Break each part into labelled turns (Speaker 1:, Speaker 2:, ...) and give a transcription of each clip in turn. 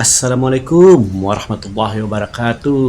Speaker 1: Assalamualaikum warahmatullahi wabarakatuh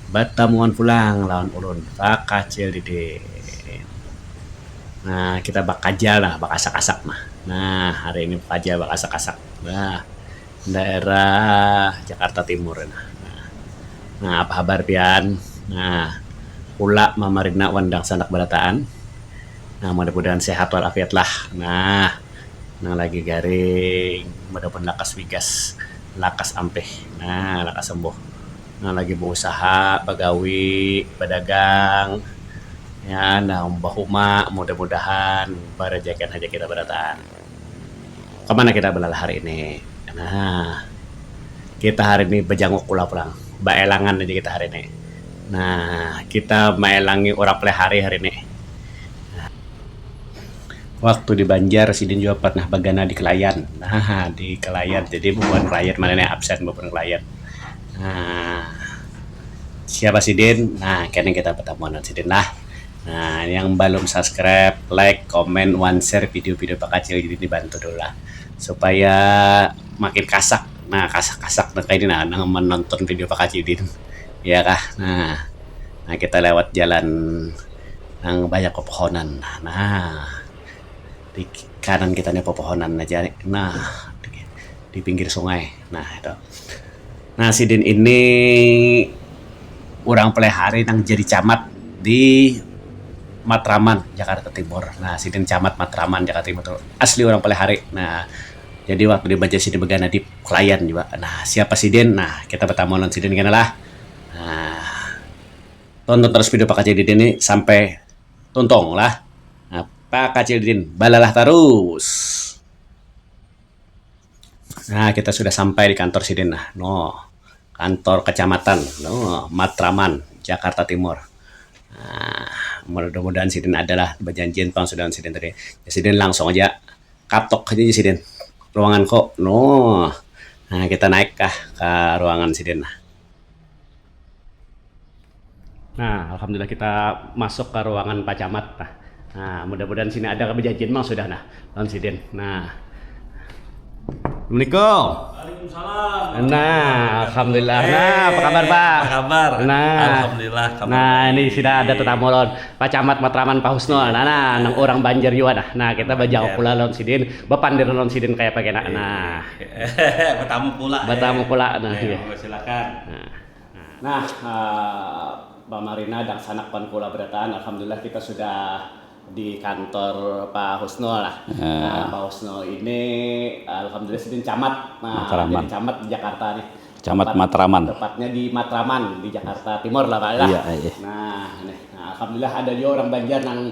Speaker 1: batamuan pulang lawan ulun vakacil didin nah kita bakajal nah bakasak-kasak nah nah hari ini bakajal bakasak-kasak nah daerah jakarta timur nah nah apa habar pian nah ula mamarina wan dangsanak barataan. Nah mudah mudahan sehat wal afiat lah nah nang lagi garing mudah mudahan lakas wigas lakas ampih nah lakas sembuh nang lagi beusaha bagawi badagang ya nang bahuma mudah mudahan barejaikan haja kita barataan. Kamana kita belalah hari ini? Nah, kita hari ini bejanguk pulang pulang, baelangan aja kita hari ini. Nah, kita maelangi urang paling hari hari ini. Waktu di Banjar sidin jua pernah bagana di Kelayan. Nah, di Kelayan jadi bubuhan Kelayan mana nih absen bubuhan Kelayan. Nah, siapa sidin? Nah, kini kita betamuan lawan sidin lah. Nah, yang balum subscribe, like, comment, wan share video-video bakacil ini dibantu dulu lah supaya makin kasak. Nah, kasak-kasak nang kaini nah nang menonton video bakacil ini. Ya kah? Nah, nah kita lewat jalan nang banyak pepohonan. Nah, di kanan kita nih pepohonan aja. Nah, di, di pinggir sungai. Nah, itu. Nah, sidin ini orang pelehari nang jadi camat di Matraman, Jakarta Timur. Nah, sidin camat Matraman, Jakarta Timur tu asli orang pelehari. Nah, jadi waktu di Banjar sidin begana di Klayan jua. Nah, siapa sidin? Nah, kita betamu lawan sidin kena lah. Nah, tonton tarus video Pak Kacil Didin ni sampai tuntung lah. Nah, Pak Kacil Didin, balalah tarus. Nah, kita sudah sampai di kantor sidin nah. No, kantor kecamatan no, Matraman, Jakarta Timur. Nah, mudah-mudahan sidin adalah bejanjian pulang sudah sidin tadi. Ya, sidin langsung aja katok aja ya sidin. Ruangan ko. No. Nah, kita naik kah ke ruangan sidin nah. Nah, alhamdulillah kita masuk ke ruangan Pak Camat. Nah, nah mudah-mudahan sini ada kebejajian mang sudah nah, lawan sidin. Nah. Assalamualaikum. Waalaikumsalam. Nah, alhamdulillah. Hey, nah, apa kabar Pak? Apa kabar? Nah, alhamdulillah. Kabar nah, ini sudah ada tetamu lawan Pak Camat Matraman Pak Husnul. Nah, nah, nang orang Banjar juga nah. Nah, kita bajawab pula lawan sidin, bepandir lawan sidin kayak apa kena. Nah. Bertamu pula. Bertamu pula. Nah, ya. Silakan. Nah, pamarina dangsanak wan kula berataan alhamdulillah kita sudah di kantor Pa Husnul lah. Nah, Pa Husnul ini alhamdulillah sidin camat. Nah, jadi camat di Jakarta nih. Camat Matraman. Tepatnya di Matraman, di Jakarta Timur lah Pak lah. Nah, nih. Nah, alhamdulillah ada jua urang Banjar nang.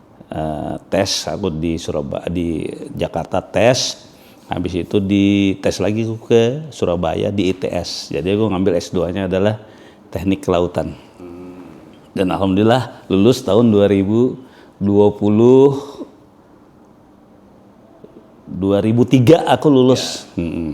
Speaker 1: tes aku di Surabaya di Jakarta tes habis itu di tes lagi aku ke Surabaya di ITS jadi aku ngambil S2 nya adalah teknik kelautan dan alhamdulillah lulus tahun 2020 2003 aku lulus yeah. hmm.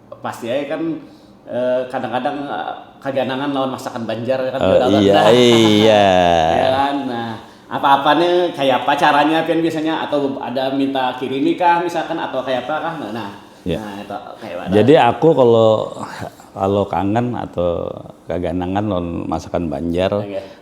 Speaker 1: pasti ai kan kadang-kadang kaganangan lawan masakan Banjar kan oh, iya, nah, iya. ya kan nah apa-apa nih kayak apa caranya pian biasanya atau ada minta kirimi kah misalkan atau kayak apa kah nah, nah Ya. Nah, itu kayak mana? Jadi aku kalau kalau kangen atau kaganangan lawan masakan Banjar, okay.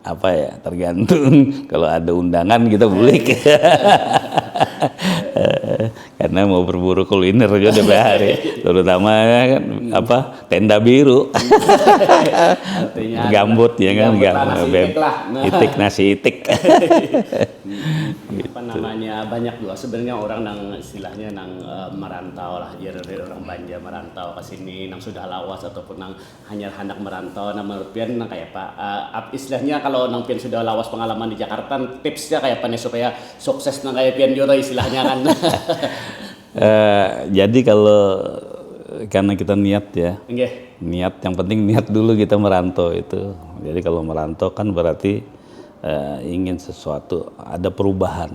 Speaker 1: apa ya tergantung kalau ada undangan kita bulik karena mau berburu kuliner juga tiap hari terutama kan apa tenda biru gambut ya kan gambut itik nasi itik apa namanya banyak juga sebenarnya orang nang istilahnya nang merantau lah jadi orang banjar merantau ke sini nang sudah lawas ataupun nang Hanyar handak merantau nah menurut pian nang kaya apa ap istilahnya kalo nang pian sudah lawas pengalaman di Jakarta tipsnya kaya apa nih supaya sukses nang kaya pian jua tuh istilahnya kan. Jadi kalo karna kita niat ya, niat yang penting niat dulu kita merantau itu jadi kalo merantau kan berarti ingin sesuatu ada perubahan.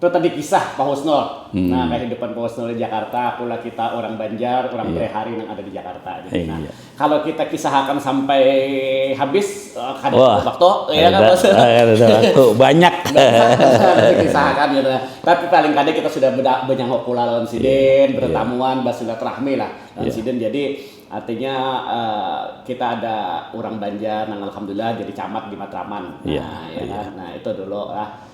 Speaker 1: Tu tadi kisah Pa Husnul. Nah, kahidupan Pa Husnul di Jakarta, pula kita urang Banjar, urang prihari nang ada di Jakarta. Jadi, nah kalau kita kisahakan sampai habis, kada cukup waktu, ya kah Bos? Kada ada waktu, banyak. Banyak nang dikisahakan kaytu nah. Tapi paling kada kita sudah banyahuk pulang lawan sidin, bertamuan, basilaturahmi lah lawan sidin. Jadi, artinya kita ada urang Banjar nang alhamdulillah jadi camat di Matraman. Nah, ya kah? Nah, itu dulu lah.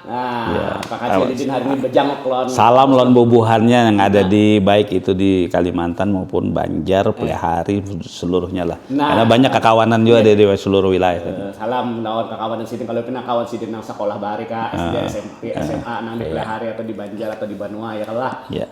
Speaker 1: Nah, makasih Didin hari ini bejanguk lon. Salam lon bubuhannya yang ada di baik itu di Kalimantan maupun Banjar, Pelihari, seluruhnya lah. Nah. Karena banyak kakawanan juga di, di seluruh wilayah. Eh, salam lawan kakawanan sidin kalau pina kawan sidin nang sekolah bahari ka SD, Ah. SMP, Iya. SMA nang di Iya. Pelihari atau di Banjar atau di Banua ya kan lah. Iya.